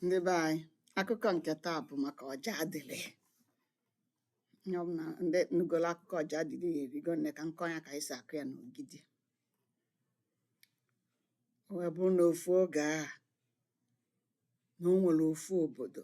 ndị be anyị akụkọ nke taa bụ maka ọjadịlị onye ọbụla ndị nụgolo akụkọ ọjadịlị ya erigo nne ka m kọọ ya ka anyị si akọ ya n'ogidi o wee bụrụ na ofu oge a na o nwere ofu obodo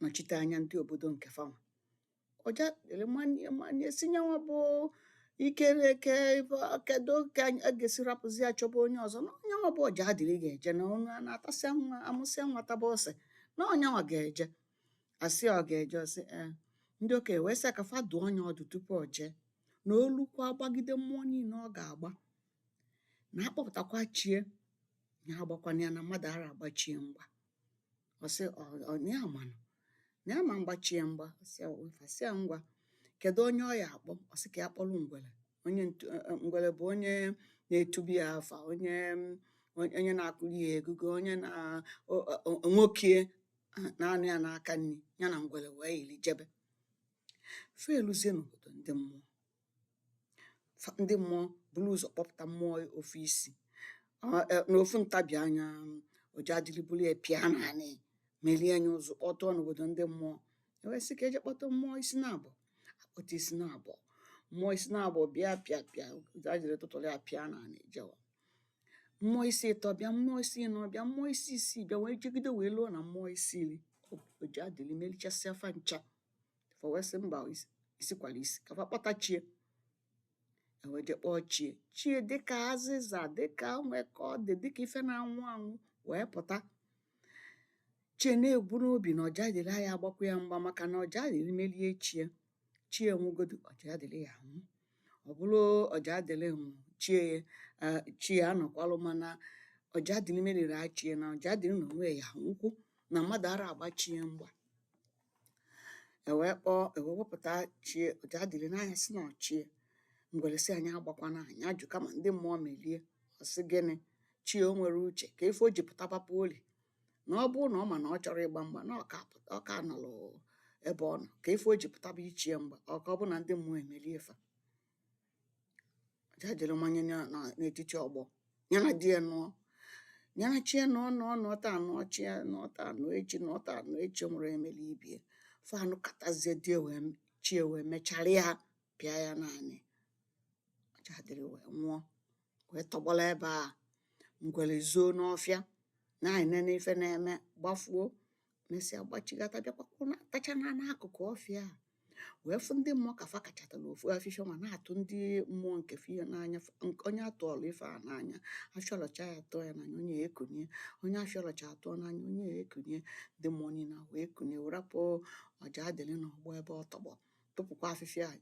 nọchite anya ndị obodo nke fanwa ọjadịlị manye manye sị nyanwa bụ ikere eke ife kedu ka anyị- a ga-esi rapụzi ya chọba onye ọzọ na ọ nyanwa bụ ọjadịlị ga-eje na ọnụ a na-atasị nwa amụsịa nwa taba ose na ọ nyanwa ga-eje a sị ọ ga-eje ọ sị ee ndị okenye wee sị ya ka fa dụọ nya ọdụ tupu o jee na o lukwa gbagide mmụọ niile ọ ga-agba na a kpọpụtakwa chie ya agbakwana ya na mmadụ ara agba chie mgba ọ sị ọ na ya manụ na ya ma agba chi ya mgba sị ya ife sị ya ngwa kedu onye ọ ya akpọ ọ sị ka ya kpọrọ ngwele onye ntu- eh, eh, ngwele bụ onye na-etubi ya afa onye mm, onye na-akụli ya egugo onye na o- o- o- nwoke ah, na-anọ ya n'aka nri ya na ngwele wee yiri jebe fa eluzie n'obodo ndị mmụọ fa ndị mmụọ buru ụzọ kpọpụta mmụọ ofu isi na ofu ntabi anya ọjadịlị buru ya pịa n'anị merie nya ụzụ kpọtụọ n'obodo ndị mmụọ e wee sị ka e je kpọta mmụọ isi na abụọ a kpọta isi na abụọ mmụọ isi na abụọ bịa pịa pịa ọjadịlị tụtụrụ ya pịa n'anị jewa mmụọ isi ịtọ bịa mmụọ isi ịnọ bịa mmụọ isi isii bịa wee jegide wee luo na mmụọ isi iri ọjadịlị merichasịa fa ncha fa wee sị mba isikwala isi ka fa kpọta chie e wee je kpọọ chie chie dịka azịza dịka nwekọ dị dịka ife na-anwụ anwụ wee pụta chie na-ebu n'obi na ọjadịlị ya agbakwa ya mgba maka na ọjadịlị melie chie chie nwụgodu ọjadịlị ya anwụ ọ bụrụ ọjadịlị nwụ chie chie anọkwalụ mana ọjadịlị merie chie na ọjadịlị na onwe ya nwụkwu na mmadụ ara agba chie mgba e wee kpọọ e wee wepụta chie ọjadịlị nee anya sị na ọ chie ngwere sị anyị agbakwana nya ajụ kama ndị mmụọ melie ọ sị gịnị chie o nwere uche kee ife o ji pụtaba poli na ọ bụrụ na ọ ma na ọ chọrọ ịgba mgba na ọ ka pụta ọ ka nọrọ ebe ọ nọ ka ife o ji pụtaba ichie mgba ọ ka ọ bụ na ndị mmụọ emelie fa ọjadịlị manye ya na n'etiti ọgbọ ya na di ya nụọ ya na chi ya nụọ nụọ nụọ taa nụọ echi nụọ taa nụọ echi nụọ taa nụọ echi o nwerọ onye meli ibe e fa nụkatazie di ya wee m- chi ya wee mechara ya pịa ya n'anị ọjadịlị wee nwụọ wee tọgbọlụ ebe a ngwele zoo n'ọfịa na-enene ife na-eme gbafuo mesịa gbachigata bịakwa kwụ na tacha na n'akụkụ ọfịa a wee fụ ndị mmụọ ka fa kachatalụ ofu afịfịa ma na-atụ ndị mmụọ nke fie n'anya f- nke onye a tụọlụ ife a n'anya afịọlọcha ya atụọ ya n'anya onye ekunie onye afịọlọcha atụọ n'anya onye ekunie ndị mmụọ niile a wee kunie wee rapụ ọjaadịlị n'ọgbọ ebe ọ tọgbọ tụpụkwa afịfịa a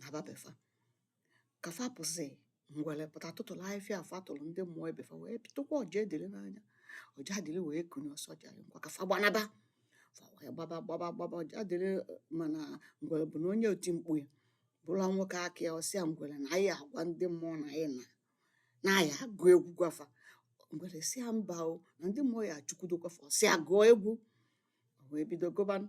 naba be fa ka fa pụsị ngwele pụta tụtụlụ afịfịa a fa tụlụ ndị mmụọ ibe fa wee tụkwa ọjaadịlị n'anya ọjaadịlị wee kunie ọ sị ọjaadịlị ngwa ka fa gbanaba fa wee gbaba gbaba gbaba ọjaadịlị mana ngwele bụ na onye otimkpu ya bụlụ nwoke aka ya ọ sị ya ngwele na anyị agwa ndị mmụọ na anyị na na anyị agụ egwu gwa fa ngwele sị ya mba o na ndị mmụọ ya-achụkwudokwa fa ọ sị ya gụọ egwu o wee bido gụbanụ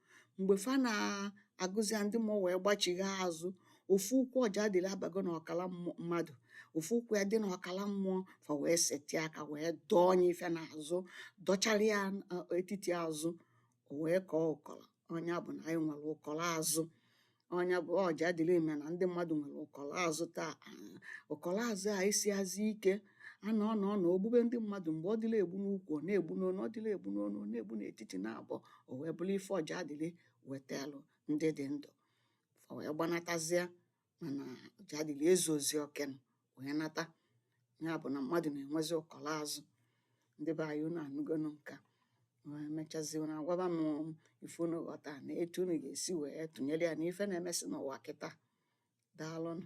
mgbe fa na-agụzi ya ndị mmụọ wee gbachigha azụ ofu ụkwụ ọjaadịlị abago na ọkala mmụ- mmadụ ofu ụkwụ ya dị na ọkala mmụọ fa wee setịa aka wee dọọ nya ife n'azụ dọchara ya uh, etiti azụ o wee kọọ ụkọlọ ọ nya bụ na anyị nwere ụkọlọ azụ ọ nya bụ ọjaadịlị mee na ndị mmadụ nwere ụkọlọ azụ taa ụkọlọ azụ a esiazi ike ana ọ na ọ na o gbube ndị mmadụ mgbe ọ dịrọ egbu n'ukwu ọ na-egbu n'onu ọ dịrọ egbu n'onu ọ na-egbu n'etiti naabọ o wee bụlụ ife ọjaadịlị wetalụ ndị dị ndụ fa wee gbanatazie mana ọjaadịlị ezuozi okenụ wee nata nya bụ̀ nà mmadụ̀ nà-ènwezi ụkọ̀lọ azụ̀ ndị be ànyị ụnụ ànụgonu ǹkè a wee mechazi ụnụ agwaba m ife ụnụ ghọta na etu ụnụ ga-esi wee tụnyelu ya na ife na-emesi n'ụwa kịta daalụnụ